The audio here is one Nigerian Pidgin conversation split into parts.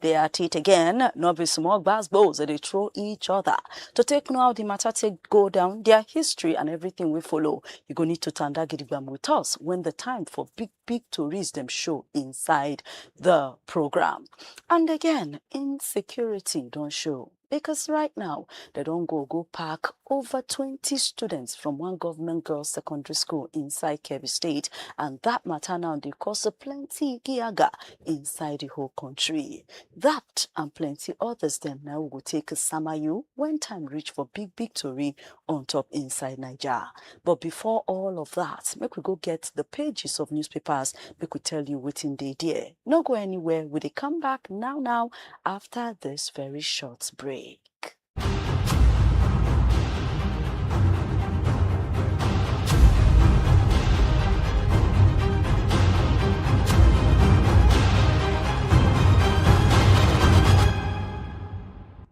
They at it again, no be small gbas gbos they dey throw each other. To take know how the matter take go down, their history and everything we follow, you go need to tanda gidigbam with us when the time for big big tories dem show inside the program. And again, insecurity don show. because right now dem don go go pack over twenty students from one government girls secondary school inside kebbi state and that matter now dey cause plenty giaga inside the whole country that and plenty others dem na we go take sama you when time reach for big big tori on top inside naija But before all of that, make we go get the pages of newspapers, make we tell you wetin dey there. No go anywhere, we dey come back now now after this very short break.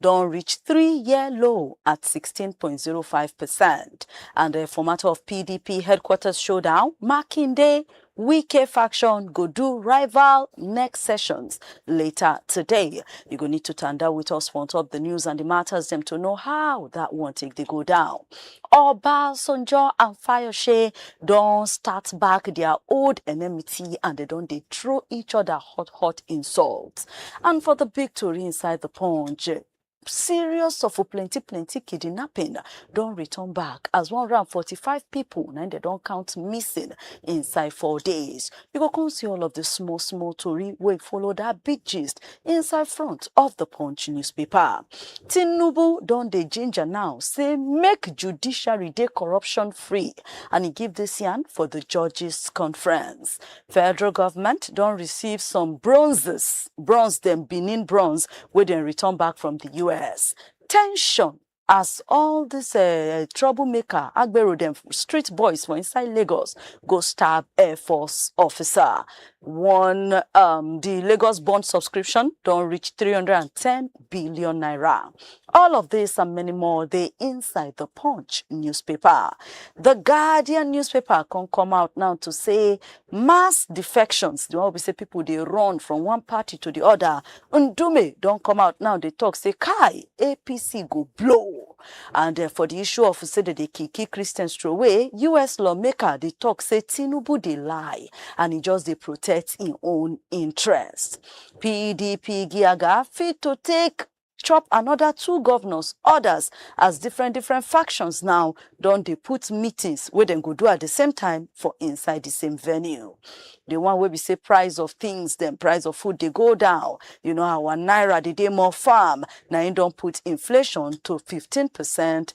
don reach three year low at 16.05%. And the formatter of PDP headquarters showdown, Makinde Wike faction go do rival next sessions later today. You go need to tanda with us for on top the news and the matters them to know how that one take they go down. Obasanjo and Fayoshe don start back their old enmity and dem don dey throw each other hot hot insults. And for the big tori inside the punch, serious of plenty plenty kidnapping don return back as one hundred and forty five people na im dem don count missing inside four days. You go come see all of the small small tori wey follow that big gist inside front of the Punch newspaper. Tinubu don dey ginger now say make judiciary dey corruption free and e give this yarn for the judges conference. Federal government don receive some bronzes, bronze dem Benin bronze wey dem return back from the US. Tension As all dis um trouble maker agbero dem, street boys for inside Lagos go stab Air Force officer. One um di Lagos bond subscription don reach 310 billion naira. All of dis and many more dey inside the Punch newspaper. The Guardian newspaper come come out now to say Mass defections, the one wey be say people dey run from one party to the other. Ndume don come out now dey talk say kai APC go blow. And uh, for the issue of say they dey kiki Christians throway, US lawmaker dey talk say Tinubu dey lie and he just dey protect him own interest. PDP Giaga fit to take chop anoda two govnors orders as different different factions now don dey put meetings wey dem go do at di same time for inside di same venue. Di one wey be say price of tins dem, price of food dey go down, you know our naira dey dey more firm, na im don put inflation to fifteen percent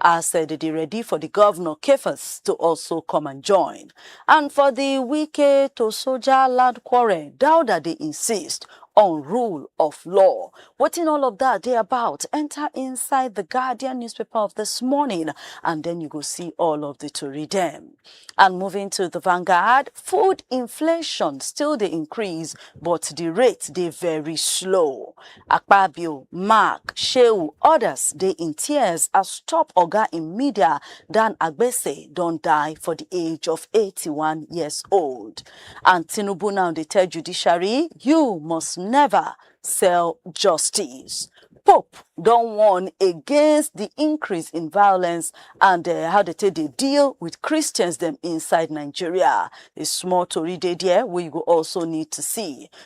as dem dey ready for di govnor Kefas to also come and join. And for di Wike to soja land quarrel, Dauda dey insist on rule of law. Wetin all of dat dey about, enta inside di Guardian newspaper of dis morning and den you go see all of di tori dem. And moving to di Vanguard, food inflation still dey increase but di rate dey very slow. Akpabio, Mark, Shehu odas dey in tears as top oga in media, Dan Agbese don die for di age of eighty one years old. And Tinubu now dey tell judiciary, you must never sell justice. Pope don warn against di increase in violence and how dem take dey deal with Christians dem inside Nigeria. A small tori dey there wey you go also need to see.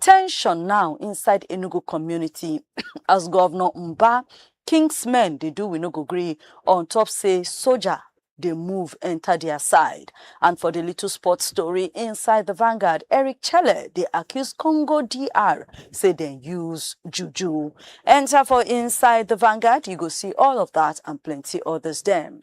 Tension now inside Enugu community as Governor Mba King's men dey do we no go gree on top say soldier dey move enter their side. And for the little sports story inside the Vanguard, Eric Chelle dey accuse Congo DR say dem use juju. Enter for inside the Vanguard, you go see all of that and plenty others dem.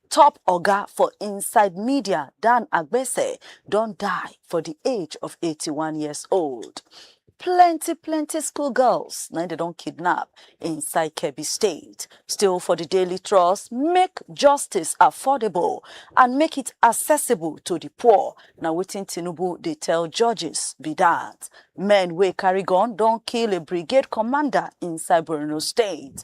Top oga for inside media Dan Agbese don die for di age of 81 years old. Plenty plenty school girls na im dem don kidnap inside Kebbi State. Still for di Daily Trust, make justice affordable and make it accessible to di poor na wetin Tinubu dey tell judges be dat. Men wey carry gun don kill a brigade commander inside Borno State.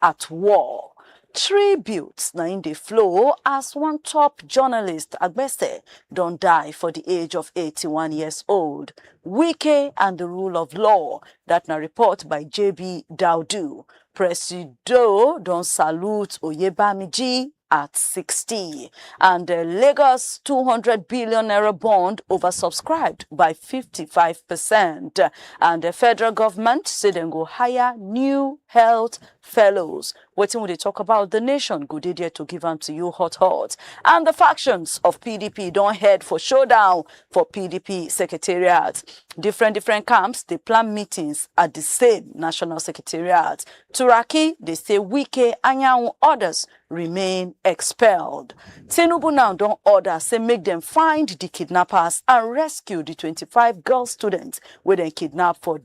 At war. Tributes na im dey flow as one top journalist, Agbese, don die for di age of eighty one years old. Wike and di rule of law, dat na report by JB Daudu. Presido don salute Oyebamiji at 60 and the Lagos 200 billion naira bond oversubscribed by 55% and the federal government say dem go hire new health fellows wetin we dey talk about the nation go dey there to give am to you hot hot and the factions of pdp don head for showdown for pdp secretariat different different camps dey plan meetings at the same national secretariat Turaki dey say Wike, Anyanwu odas remain expelled. Tinubu now don order say make dem find di kidnappers and rescue di twenty five girl students wey dem kidnap for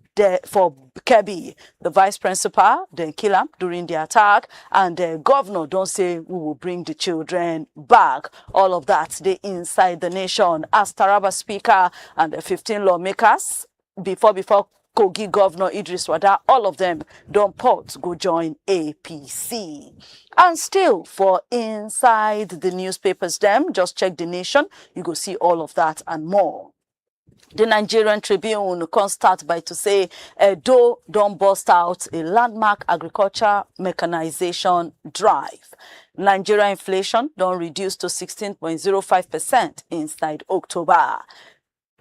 for Kebbi. Di vice principal dem kill am during di attack and di govnor don say we will bring di children back. All of dat dey inside di nation as Taraba speaker and di fifteen lawmakers before before Kogi Governor Idris Wada, all of them don port go join APC. And still for inside the newspapers them, just check the nation, you go see all of that and more. The Nigerian Tribune can start by to say Edo don burst out a landmark agriculture mechanization drive. Nigeria inflation don reduce to 16.05% inside October.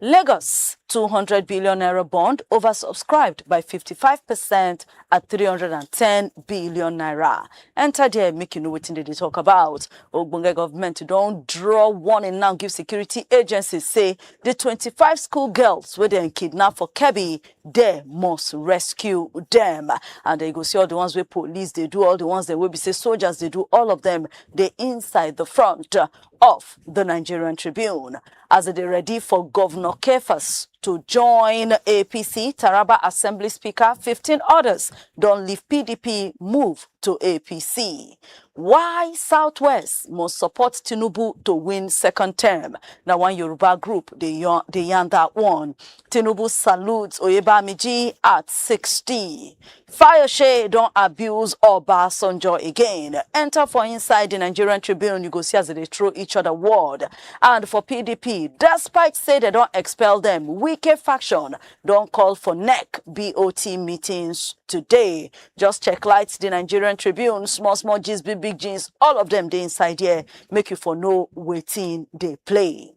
Lagos, two hundred billion naira bond oversubscribed by fifty five percent at three hundred and ten billion naira. Enter there make you know wetin dem dey talk about. Ogbonge government don draw warning now give security agencies say the twenty five school girls wey dem kidnap for Kebbi there must rescue them and you go see all the ones wey police dey do, all the ones dem wey be say soldiers dey do, all of them dey inside the front of the Nigerian Tribune. as e dey ready for Govnor Kefas to join APC, Taraba Assembly Speaker, 15 others don leave PDP move to APC. Why Southwest must support Tinubu to win second term? Na one Yoruba group dey yarn, dey yarn that one. Tinubu salutes Oyebamiji at 60. Fayose don abuse Obasanjo again. Enter for inside the Nigerian Tribune, you go see as they dey throw each other word. And for PDP, despite say they don expel them, Wike faction don call for NEC BOT meetings today. Just check light the Nigerian Tribune, small small gist, big big jeans, all of them dey inside here. Make you for know wetin dey play.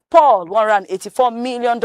Paul $184 million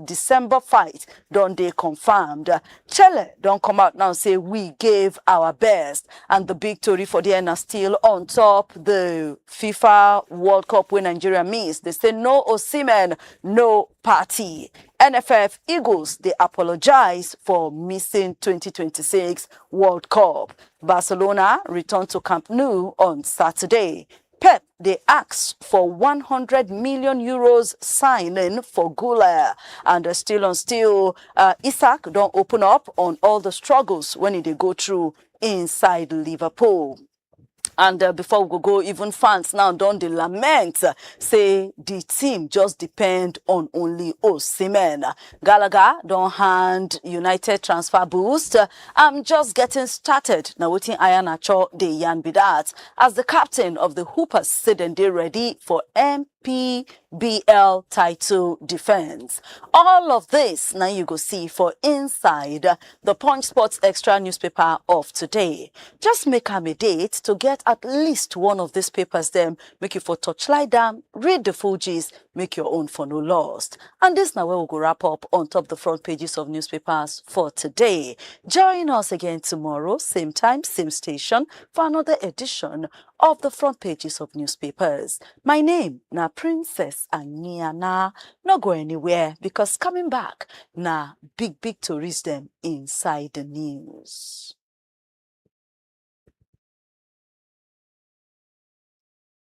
December fight don dey confirmed. Chelle don come out now say we gave our best and the big tori for there na still on top the FIFA World Cup wey Nigeria miss. They say no Osimhen, no party. NFF Eagles dey apologize for missing 2026 World Cup. Barcelona return to Camp Nou on Saturday. Pep dey ask for one hundred million euros signing for Gula. And uh, still on still, uh, Isaac don't open up on all the struggles when he dey go through inside Liverpool. And uh, before we go, go, even fans now don dey lament uh, say the team just depend on only Osimhen. Gallagher don hand United transfer boost. I'm just getting started na wetin Iheanacho dey yarn be that as the captain of the Hoopers say dem dey ready for NPBL title defence. All of this na you go see for inside the Punch Sports Extra newspaper of today. Just make am a date to get at least one of these papers dem make you for torchlight am, read the full gist make your own for no lost. And this now where we go wrap up on top the front pages of newspapers for today. Join us again tomorrow, same time, same station, for another edition of the front pages of newspapers. My name na Princess Aniana. No go anywhere because coming back na big big tourist them inside the news.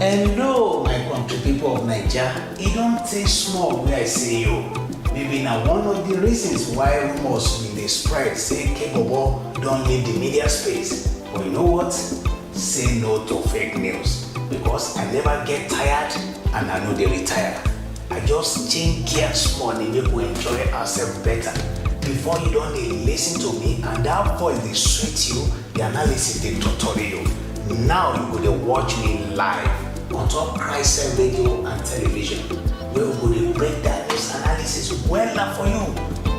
Hello, my country people of Naija. E don tey small wey I see you. Maybe na one of the reasons why rumors bin dey spread say Kebobo don leave the media space. But you know what? Say no to fake news because I never get tired and I no dey retire. I just change gear small dey make we enjoy ourselves better. Before you don dey listen to me and that voice dey sweet you, The analysis dey totori you. Now you go dey watch me live on top Christian radio and television wey we go dey break down news analysis wella for you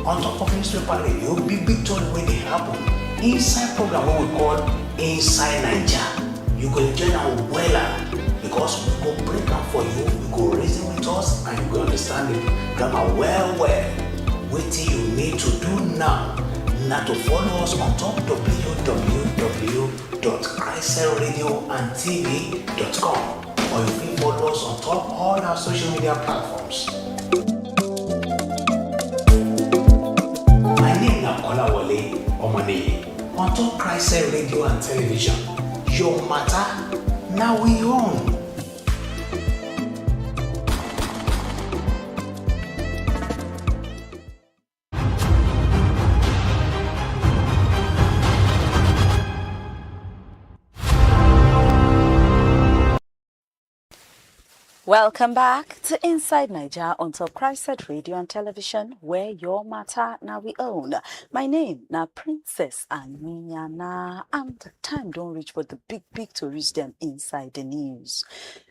on top of newspaper radio big big tori wey dey happen inside program wey we call Inside Naija. You go enjoy am wella because we go break am for you, you go reason with us and you go understand the grammar well well. Wetin you need to do now na to follow us on top www.icelradioandtv.com or you fit follow us on top all our social media platforms. My name na Kolawole Omoniyi on top Christ Radio and Television. Your matter na we own. Welcome back to Inside Niger on Top Christ Radio and Television, where your matter now we own. My name now Princess Aniana, and the time don't reach for the big big to reach them inside the news.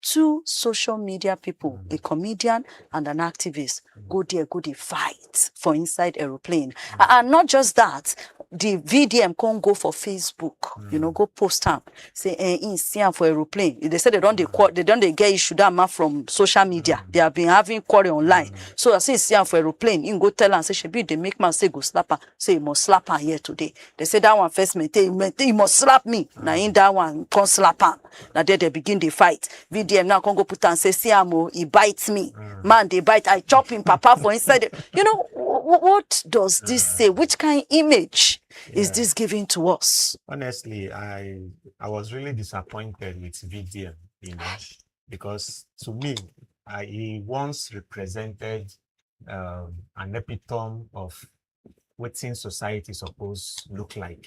two social media pipo, a comedian and an activist, go dia go dey fight for inside aeroplane. And not just dat, di VDM con go for Facebook, you know, go post am, say eh, im see am for aeroplane. Dey say dey don dey qua- dey don dey get issue dat man from social media. They have been having quarrel online. So as im see am for aeroplane, im go tell am say shebi you dey make man say you go slap am, say you must slap am here today. Dey say dat one first maintain, maintain, you must slap me. Na im dat one con slap am. na there dem begin dey fight vdm now come go put am say see am o he bite me mm. man dey bite i chop him papa for inside the, you know what does this mm. say which kind image yeah. is this giving to us honestly i i was really disappointed with vdm you know because to me I, he once represented um, an epitome of what society suppose look like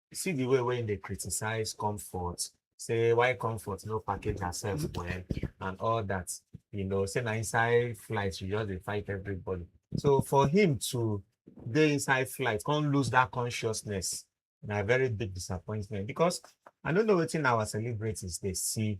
see the way wey im dey criticize comfort say why comfort no package herself well and all that you know say na inside flight she just dey fight everybody so for him to dey inside flight come lose that consciousness na very big disappointment because i no know wetin our celebrities dey see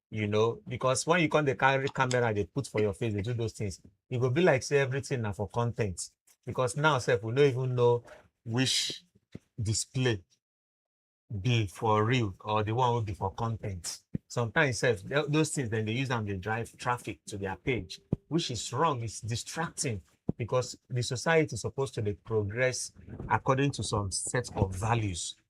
you know because when you come dey carry camera dey put for your face dey do those things e go be like say everything na for content because now sef we no even know which display be for real or the one wey be for content sometimes sef tho- those things dem dey use am dey drive traffic to their page which is wrong it's distracting because the society suppose to dey progress according to some set of values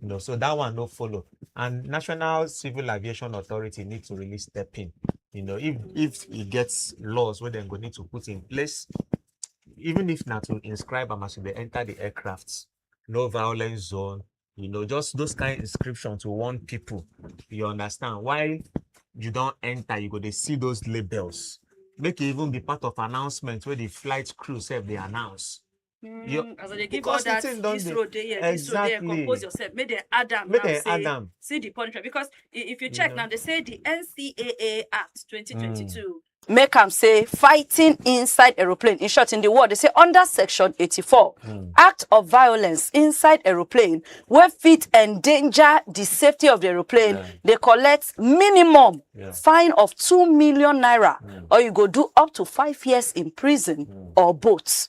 you know so that one no follow and national civil aviation authority need to really step in you know if if e get laws wey dem go need to put in place even if na to inscribe am as you dey enter the aircraft no violence zone you know just those kind inscription to warn people you understand why you don enter you go dey see those labels make e even be part of announcement wey the flight crew sef dey announce Mm, Your- as I dey give all because the that, thing don this dey- road dey here, this road there, Exactly. compose yourself. Make them add am make now, dem say, add am see the punishment. Because i- if you You check know. now, they say the NCAA Act 2022. Make am say fighting inside aeroplane. In short, in the world, they say under section 84, act of violence inside aeroplane where fit endanger the safety of the aeroplane, Yeah. they collect minimum Yeah. fine of 2 million naira or you go do up to five years in prison or both.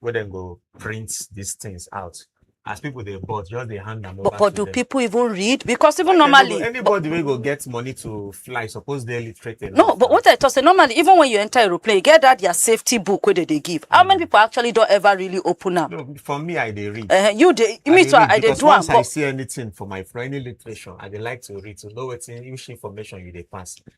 wey dem go print these things out as people dey bought just dey hand am over But, but to do them. people even read? Because even normally, Anybody- anybody wey go get money to fly suppose dey literate enough. no, but what I talk say normally, even when you enter aeroplane, you get that their safety book where they, they give. How many people actually don't ever really open up? no for me i dey read. Uh, you they, I me dey too, read I they because do am. once I but- see anything for my for any literature, I dey like to read to know wetin which information you dey pass.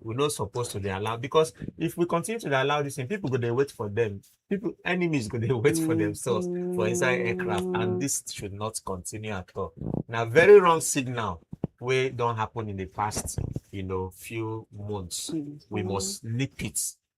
we no suppose to dey allow because if we continue to dey allow this thing people go dey wait for them people enemies go dey wait for themselves for inside aircraft and this should not continue at all na very wrong signal wey don happen in the past you know few months we must nip it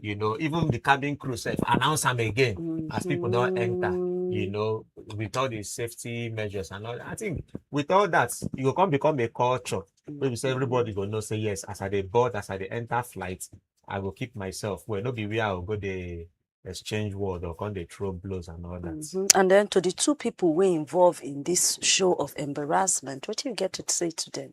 you know even the cabin crew sef announce am again mm-hmm. as people don enter you mm-hmm. know with all the safety measures and all that. i think with all that e go come become a culture wey be say everybody go know say yes as i dey board as i dey enter flight i go keep myself well no be where i go go dey exchange word or come dey throw blows and all that. Mm -hmm. and then to the two people wey involve in this show of embarrassment wetin you get to say to them.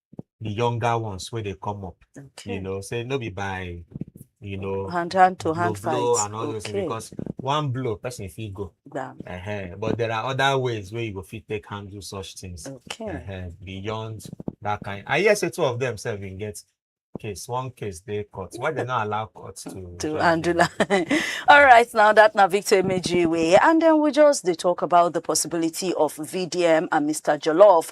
the younger ones where they come up. Okay. You know, say no be by you know hand hand to hand fight and all okay. those things because one blow person if you go yeah. uh-huh. but there are other ways where you go fit take handle such things okay. uh-huh. beyond that kind i hear say two of them self bin get case one case they court why they not allow court to to handle all right now that na victor emejiwe and then we just they talk about the possibility of vdm and mr jollof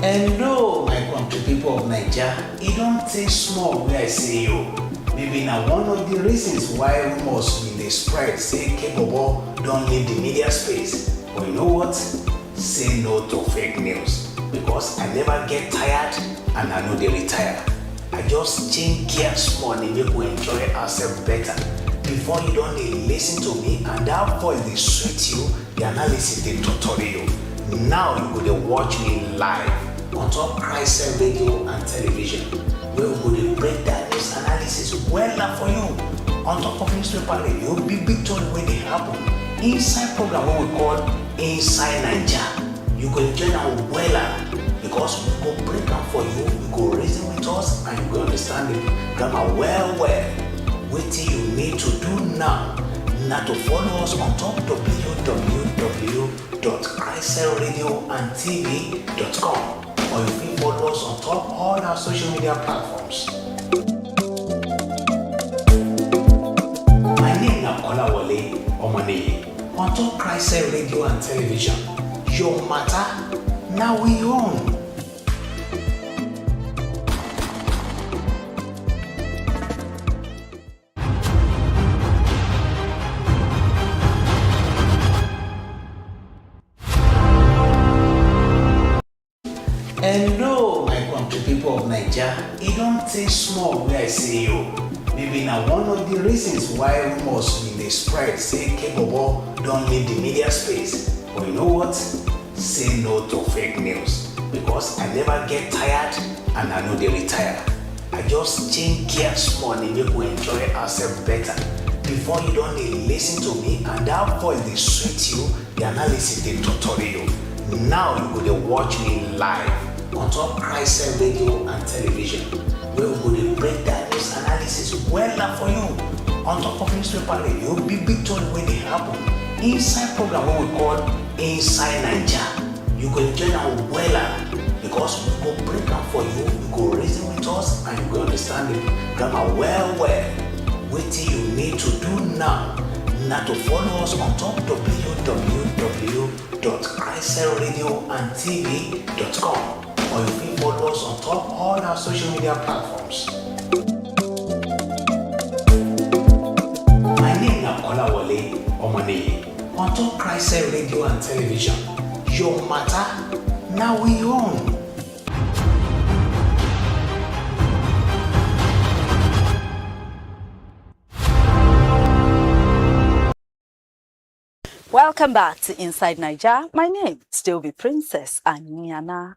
Hello, my country people of Naija. E don tey small wey I see you. Maybe na one of the reasons why rumors bin dey spread say Kebobo don leave the media space. But you know what? Say no to fake news because I never get tired and I no dey retire. I just change gear small dey make we enjoy ourselves better. Before you don dey listen to me and that voice dey sweet you, The analysis dey totori you. Now you go dey watch me live on top Christian radio and television wey we go dey break down news analysis wella for you on top of newspaper radio big big tori wey dey happen inside program wey we call Inside Naija. You go enjoy am wella because we go break am for you, you go reason with us and you go understand the grammar well well. Wetin you need to do now na to follow us on top www.icelradioandtv.com or you fit follow us on top all our social media platforms. My name na Kolawole Omoniyi on top Christ Radio and Television. Your matter na we own. Hello, my country people of Naija. E don tey small wey I see you. Maybe na one of the reasons why rumors bin dey spread say Kebobo don leave the media space. But you know what? Say no to fake news because I never get tired and I no dey retire. I just change gear small dey make we enjoy ourselves better. Before you don dey listen to me and that voice dey sweet you, the analysis dey torture you. Now you go dey watch me live on top Christ radio and television wey we go dey break down news analysis wella for you on top of newspaper radio, big big tori wey dey happen inside program wey we call inside naija you go enjoy am wella because we go break am for you you go reason with us and you go understand the grammar well well wetin you need to do now na to follow us on top www.christradioandtv.com or you fit follow us on top all our social media platforms. My name na Kolawole Omoniyi. On top Christ Radio and Television, your matter now we own. Welcome back to Inside Niger. My name still be Princess Aniana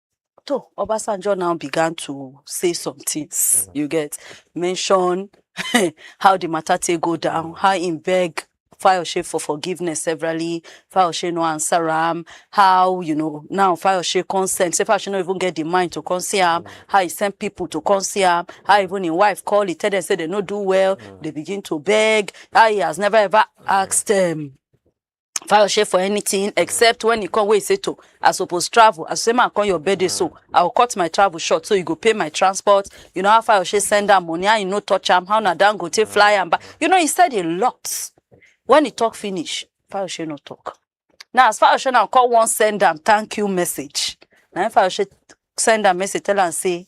Toh, Obasanjo now began to say some things, mm. you get, mention how the matter take go down, mm. how he beg Fayoshe for forgiveness severally, Fayoshe no answer him, how, you know, now Fayoshe consent, say Fayoshe no even get the mind to consent him, mm. how he send people to consent him, how even his wife call, he tell them, say they no do well, mm. they begin to beg, how he has never ever asked them, um, Fayose for anything except when he come wey he say to I suppose travel. I say man come your birthday so I will cut my travel short so you go pay my transport. You know how Fayose send am money how you no touch am how na Dangote fly am back. You know he said a lot. When he talk finish Fayose no talk. Now as Fayose now come wan send am thank you message. Na him Fayose send am message tell am say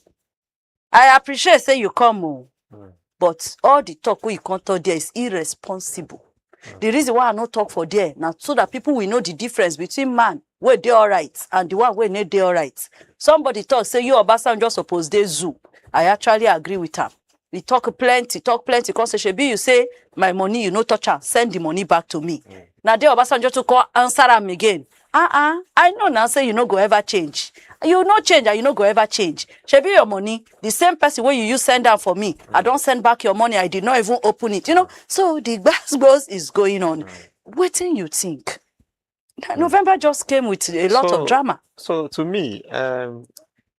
I appreciate say you come o, mm. but all the talk wey you come talk there is irresponsible. Mm. The reason why I no talk for there na so that people will know the difference between man wey dey alright and the one wey no dey alright. Somebody talk say you Obasanjo suppose dey zoo. I actually agree with am. He talk plenty, talk plenty. Come say, Shebi, you say my money, you no touch am. Send the money back to me. Mm. Now there Obasanjo to call answer am again. Ah ah, I know now say you no go ever change. You no change and you no go ever change. Shebi your money, the same person wey you use send am for me, I don send back your money, I did not even open it. You know, so the gbas is going on. Wetin you think? Na- November just came with a lot So- of drama. So to me, um,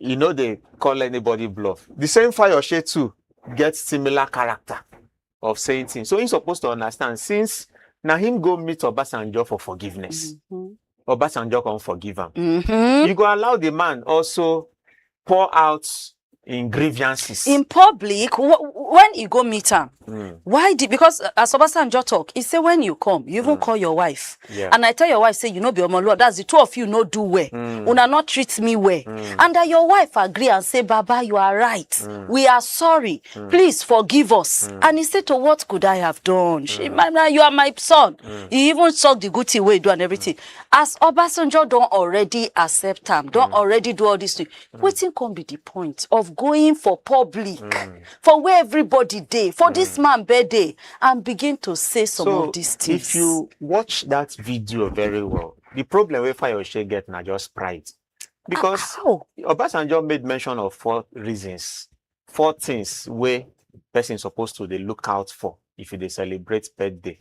e no dey call anybody bluff the same fayose too get similar character of saying things so he suppose to understand since na him go meet obasanjo for forgiveness Mhm. obasanjo come forgive am Mhm. you go allow the man also pour out in grievances. in public wh- when you go meet am Mm. why did because uh, as obasanjo talk he say when you come you even call your wife Mm. Yeah. and i tell your wife say you no be omoluwa that's the two of you no do well Mm. una no treat me well and that your wife agree and say baba you are right Mm. we are sorry please forgive us and he say to what could i have done Mm. she my, my, you are my son he even talk the good thing wey he do and everything as obasanjo don already accept am Mm. don already do all this thing Mm. Wetin come be the point of going for public, mm. for where everybody day, for mm. this man birthday, and begin to say some so of these things? If you watch that video very well, the problem we find your share get now just pride. Because ah, Obasanjo made mention of four reasons four things wey person suppose to dey look out for if you dey celebrate birthday.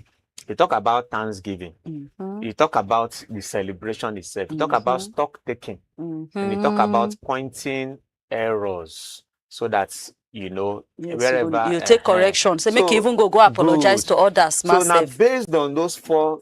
You talk about thanksgiving. Mm -hmm. You talk about the celebration itself. You talk mm -hmm. about mm-hmm. stock taking. Mm -hmm. And you talk about mm-hmm. pointing errors so that you know yes, wherever you, you take uh, correction. So, so make you even go go apologize good. to others. Massive. So now based on those four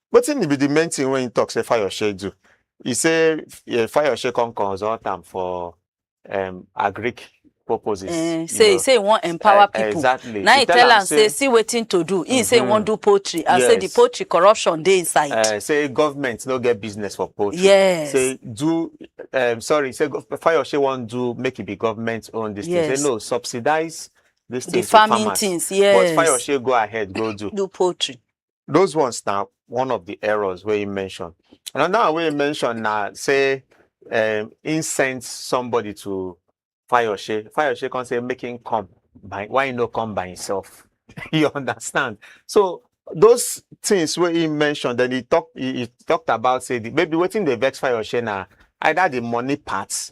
Wetin be the main thing wey him talk say Fayose do? He say um Fayose come consult am for um agric purposes. Eh, you say know. say he wan empower Eh, people. Exactly. Na He him tell am say see wetin to do. Him say he wan Mhm. do poultry and say the Yes. poultry corruption dey inside. uh, say government no get business for poultry. Yes. Say do um, sorry, say gov- Fayose wan do make it be government own this thing. Yes. Say no, subsidize this thing the to farming farmers. things, yes. But Fayose go ahead, go do. do poultry. those ones na one of the errors wey im mention another one wey im mention na say um, im send somebody to fayose fayose come say make him come by why he no come by himself you understand so those things wey he mention then he talk he, he talked about say the, maybe wetin dey vex fayose na either the money part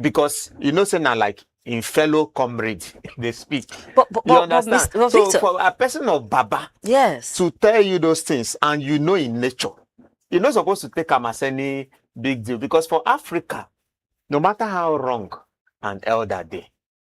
because you know say na like im fellow comrade dey speak But, but, you but, but, understand Mr. but so Victor, for a person of baba yes. to tell you those things and you know in nature you no suppose to take am as any big deal because for africa no matter how wrong an elder dey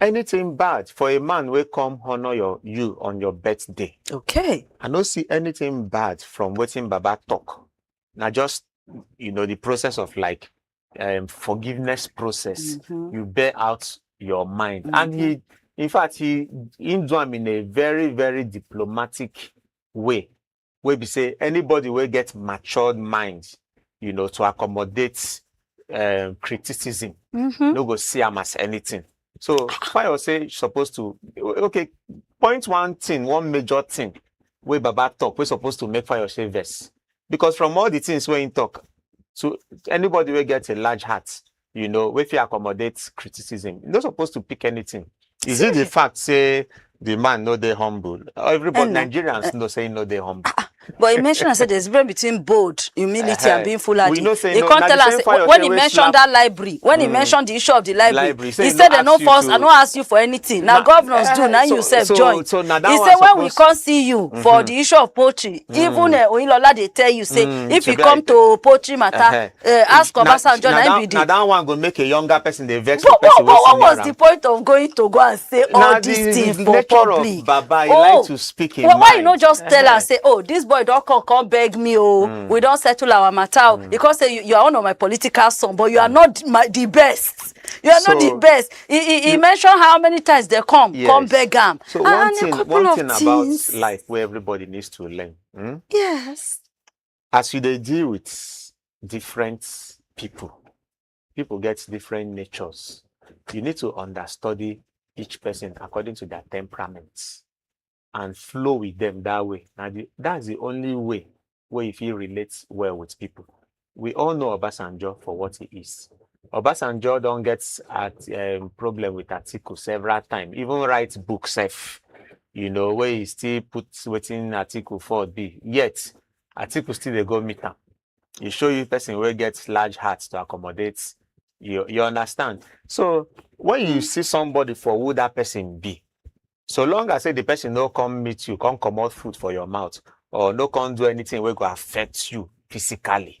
anything bad for a man wey come honour your you on your birthday Okay. i no see anything bad from wetin baba talk na just you know the process of like um, forgiveness process Mhm. you bear out your mind and he in fact he he do am in a very very diplomatic way wey be say anybody wey get matured mind, you know, to accommodate um, criticism, mm-hmm. no go see am as anything. So Fayo say you're supposed to okay, point one thing, one major thing where Baba talk, we're supposed to make Fayo say verse. Because from all the things where he talk, so anybody will get a large heart, you know, wey fit accommodate criticism. You no suppose to pick anything. Is it the fact say the man no dey humble? Everybody, Hello. Nigerians know say he no dey humble. But he mentioned, I said, there's a difference between bold humility and Uh-huh. being foolhardy. We know say he no- can't na tell the us same fire when he say we mentioned slap- that library, when he mentioned the issue of the library, Library. Say he he said no they no ask you force, to- I no ask you for anything. Now Na- governors do, eh, now so- you self so- join. so na that he one said when we suppose- can't see you for the issue of poultry, even uh, Oyilola they tell you say Mm, if you shebi I come tell- to poultry matter, Uh-huh. uh, ask Obasanjo na him be the. na that one go make a younger person dey vex for person wey senior am. what was the point of going to go and say all na these things for public. of baba he oh, like to speak in well, mind. why you no just tell am say oh this boy don come come beg me oh mm. we don settle our matter oh mm. he come say you, you are one of my political son but you mm. are hmm. not my, the best you are so, not the best he he, he you, mention how many times they come yes. come beg am. so and, one thing one thing about life wey everybody needs to learn. Hmm? yes. As you dey deal with different people, people get different natures. You need to understudy each person according to their temperament and flow with them that way. Now, the, that's the only way where you feel relate well with people. We all know Obasanjo for what he is. Obasanjo don't get at um, problem with Atiku several times, even write books. If you know, where he still put waiting article for be. Yet, article still they go meet him. He show you person where gets large hearts to accommodate you. You understand? So when you see somebody for who that person be, so long as say the person no come meet you, come come out food for your mouth, or no come do anything where go affect you physically.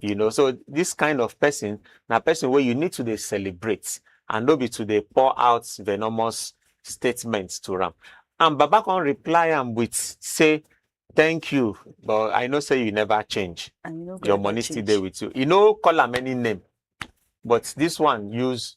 you know so this kind of person na person wey you need to dey celebrate and no be to dey pour out venomous statements to am and baba come reply am with say thank you but i know say you never change And you no go your ever money still change. dey with you e no call am any name but this one use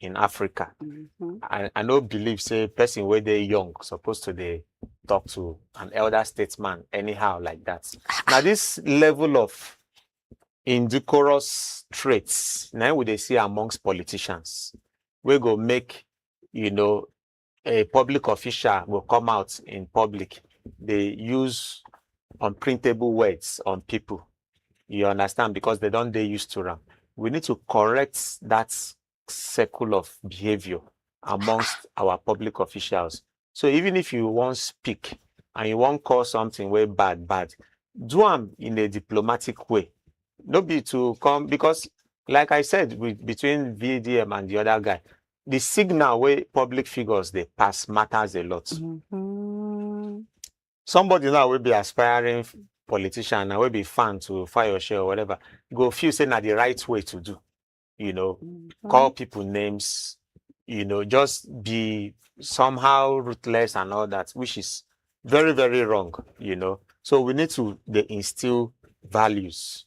in Africa. Mhm. I, I no believe say person wey dey young suppose to dey talk to an elder statesman anyhow like that. Na this level of indecorous traits na im we dey see amongst politicians wey go make you know a public official go come out in public dey use unprintable words on pipu, you understand, because dem don dey used to am. We need to correct dat circle of behaviour amongst our public officials. So even if you wan speak and you wan call something wey bad bad, do am in a diplomatic way, no be to come because like I said with between VDM and de other guy, the signal wey public figures dey pass matters a lot. Mhm. Somebody now wey be aspiring f- politician and wey be fan to Fayose or whatever go feel say na the right way to do. You know, Mhm. call people names, you know, just be somehow ruthless and all that, which is very, very wrong, you know. So we need to they instill values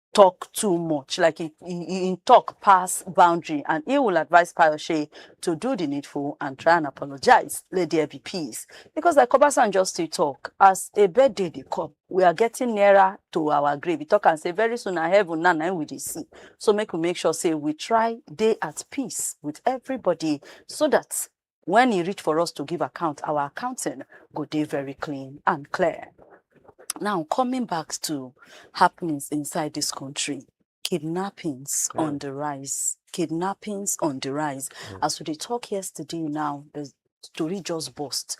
talk too much, like he, he, he talk pass boundary, and he will advise Payoshe to do the needful and try and apologize. Let there be peace. Because like Obasan just to talk, as a birthday they come, we are getting nearer to our grave. We talk and say very soon our heaven now now we dey see. So make we make sure say we try day at peace with everybody so that When e reach for us to give account, our accounting go dey very clean and clear. Now, coming back to happenings inside this country, kidnappings mm. on the rise, kidnappings on the rise. Mm. As we talk yesterday now, the story just burst.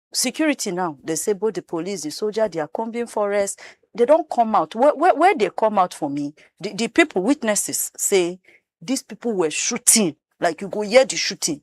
security now dey say both the police the soldier they are combing forest they don come out where where, where they come out for me the, the people witnesses say these people were shooting like you go hear the shooting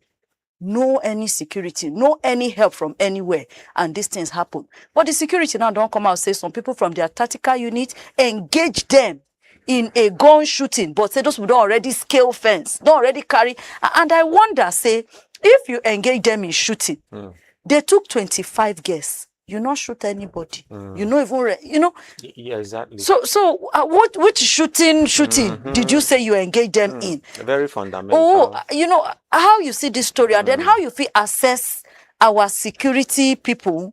no any security no any help from anywhere and these things happen but the security now don come out say some people from their tactical unit engage them in a gun shooting but say those people don already scale fence don already carry a- and i wonder say if you engage them in shooting Mm. they took 25 guests you no shoot anybody Mm. you no even re- you know Y- Yeah, exactly. so so uh, what which shooting shooting did you say you engage them in Very fundamental. oh uh, you know how you see this story and then how you fit assess our security people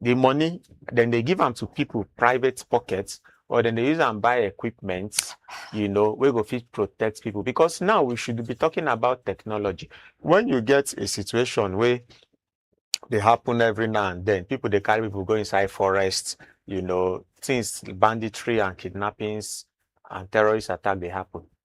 the money then they give them to people private pockets or then they use and buy equipment you know we go fit protect people because now we should be talking about technology when you get a situation where they happen every now and then people they carry people go inside forests you know things banditry and kidnappings and terrorist attack they happen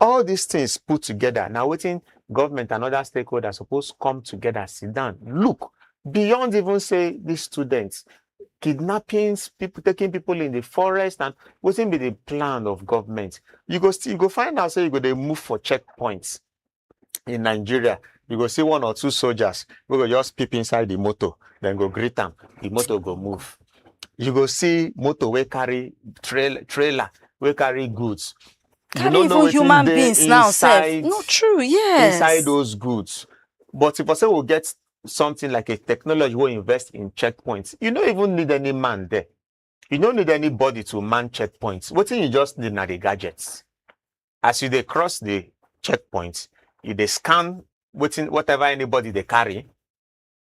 All dis things put together na wetin government and other stakeholders suppose come together sit down look beyond even say dis students, kidnappings, people taking people in the forest and wetin be the plan of government. You go still you go find out say you go dey move for checkpoints in Nigeria, you go see one or two soldiers wey go just peep inside the motor, dem go greet am, the motor go move. You go see motor wey carry trail trailer wey carry goods, you Carry no know even wetin human dey beings now sef. inside No true, yes. inside those goods. But if I say we get something like a technology we invest in checkpoints, you don't even need any man there. You don't need anybody to man checkpoints. What you just need are the gadgets. As you they cross the checkpoints, you they scan waiting whatever anybody they carry.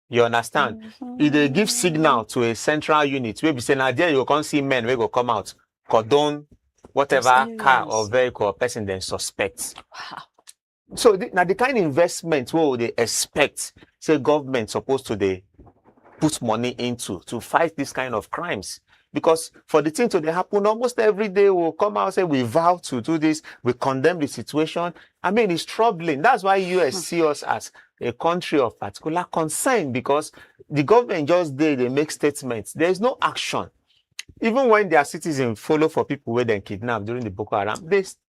you understand mm-hmm. e dey give signal to a central unit wey be say na there you go come see men wey go come out cordon whatever car or vehicle or person dem suspect. Wow. so the, na the kind investment wey we dey expect say government suppose to dey put money into to fight this kind of crimes because for the thing to dey happen almost every day we will come out say we vow to do this we condemn the situation i mean it's troubling that's why us hmm. see us as a country of particular concern because the government just dey dey make statements there is no action even when their citizens follow for people where they kidnapped during the boko haram they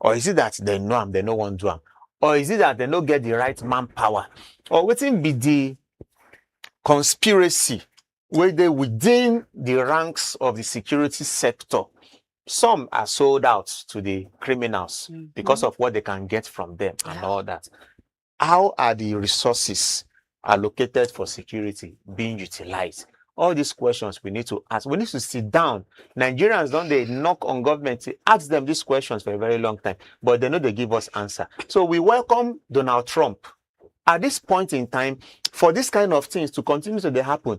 or is it that they know am they no wan do am or is it that they no get the right manpower or wetin be the conspiracy wey dey within the ranks of the security sector some are sold out to the criminals because of what they can get from them and all that How are di resources allocated for security being utilised? All dis questions we need to ask. We need to sit down. Nigerians don dey knock on government to ask dem dis questions for a very long time, but dem no dey give us answer. So we welcome Donald Trump. At dis point in time, for dis kind of tins to continue to dey happun,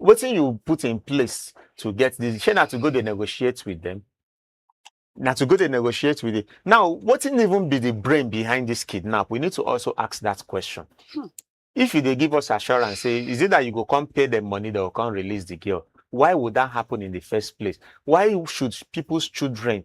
wetin you put in place to get this? Shey na to go dey negotiate with them? Na to go dey negotiate with it. Now, wetin even be the brain behind this kidnap? We need to also ask that question. Hmm. If you dey give us assurance, say is it that you go come pay them money, they will come release the girl? Why would that happen in the first place? Why should people's children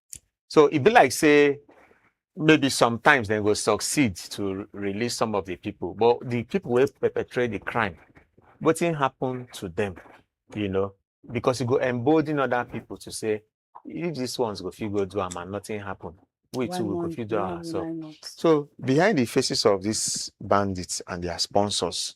So e be like say maybe sometimes dem go succeed to release some of the people, but the people wey perpetrate the crime, wetin happen to them, you know? Because e go embolden other people to say, if these ones go fit go do am and nothing happen, we Why too we go not? fit do Why am will ourselves. I not? So behind the faces of these bandits and their sponsors,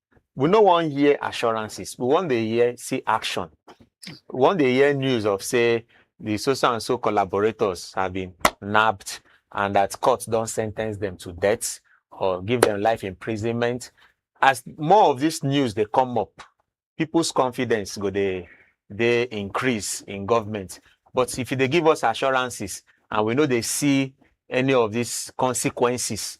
we no wan hear assurances we wan dey hear see action we wan dey hear news of say the so so and so collaborators have been nabbed and that court don sentence them to death or give them life imprisonment as more of this news dey come up people's confidence go dey dey increase in government but if you dey give us assurances and we no dey see any of these consequences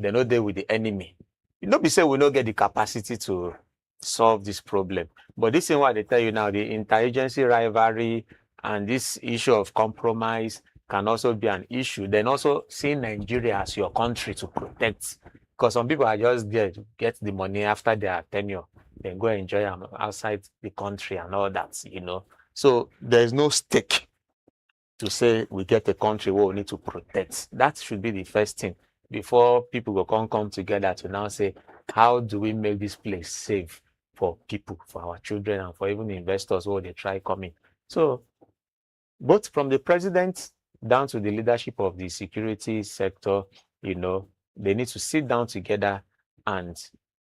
dem no dey with the enemy. No be say we no get the capacity to solve this problem, but this thing wey I dey tell you now, the inter-agency rivalry and this issue of compromise can also be an issue. Then also seeing Nigeria as your country to protect, because some people are just there to get the money after their tenure, then go enjoy am outside the country and all that, you know. So there is no stake to say we get a country where we need to protect. That should be the first thing before people go come come together to now say, how do we make this place safe for people, for our children, and for even investors who they try coming. So, both from the president down to the leadership of the security sector, you know, they need to sit down together and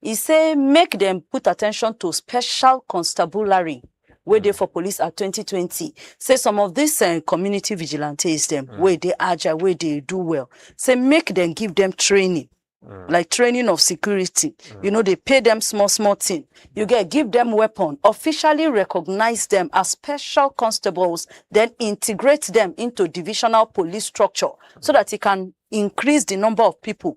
e say make dem put attention to special constabulary wey dey for police at 2020 say some of dis eh, community vigilantes dem Mm. wey dey agile wey dey do well say make dem give dem training Mm. like training of security you know dey pay dem small small thing you get give dem weapon officially recognize dem as special constables then integrate dem into divisional police structure so that e can increase the number of people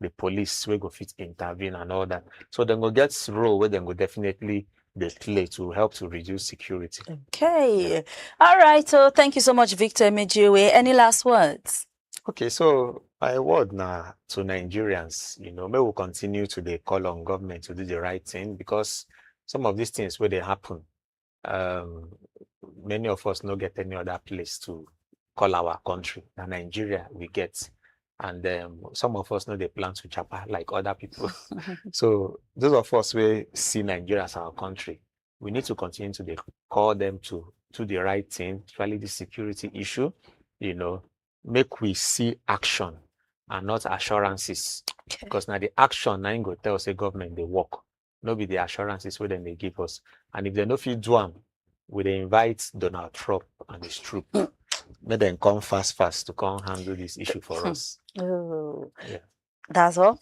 di police wey go fit intervene and all dat. So dem go get role wey dem go definitely dey play to help to reduce security. Okay. All right. So oh, thank you so much, Victor Emejiwe. Any last words? Okay, so my word now to Nigerians, you know, may we continue to the call on government to do the right thing because some of these things where they happen, um, many of us no get any other place to call our country. Now Nigeria we get, and um, some of us know they plan to chapa like other people. so those of us we see Nigeria as our country, we need to continue to call them to do the right thing, especially the security issue. You know, make we see action and not assurances, because now the action now go tell say government they work. no be di assurances wey dem dey give us and if dem no fit do am we dey invite Donald Trump and his troop make dem come fast fast to come handle this issue for hmm. us. Oh. Yeah. That's all?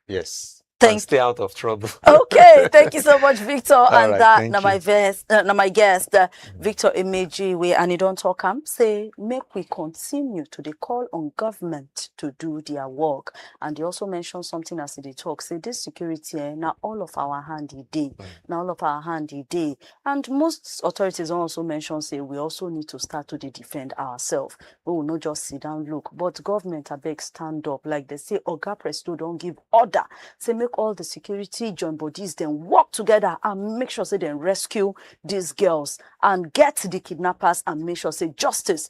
Yes. Thank and stay out of trouble. okay, thank you so much, Victor. All and right, that uh, now my guest, uh, now my guest, uh, mm-hmm. Victor Emeji, we and you don't talk. I'm say make we continue to the call on government to do their work. and e also mention something as e dey talk say this security eh, na all of our hand e dey mm. na all of our hand e dey and most authorities don also mention say we also need to start to dey defend ourselves we will not just sit down look but government abeg stand up like they say oga presto don give order say make all the security join bodies dem work together and make sure say dem rescue these girls and get the kidnappers and make sure say justice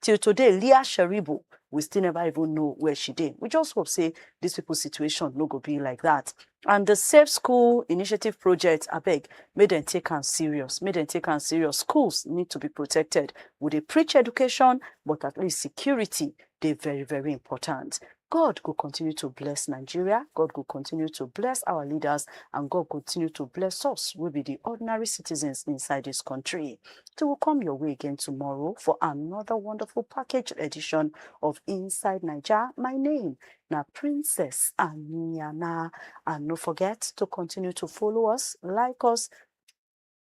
Till today Leah Sheribu we still never even know where she dey. We just hope say these people situation no go be like that. And the Safe School Initiative project, abeg, make dem take am serious. Make dem take am serious. Schools need to be protected. We dey preach education, but at least security dey very, very important. God go continue to bless Nigeria, God go continue to bless our leaders, and God go continue to bless us, we be the ordinary citizens inside this country. They will come your way again tomorrow for another wonderful package edition of Inside Nigeria. My name na Princess Aniana. And no forget to continue to follow us, like us,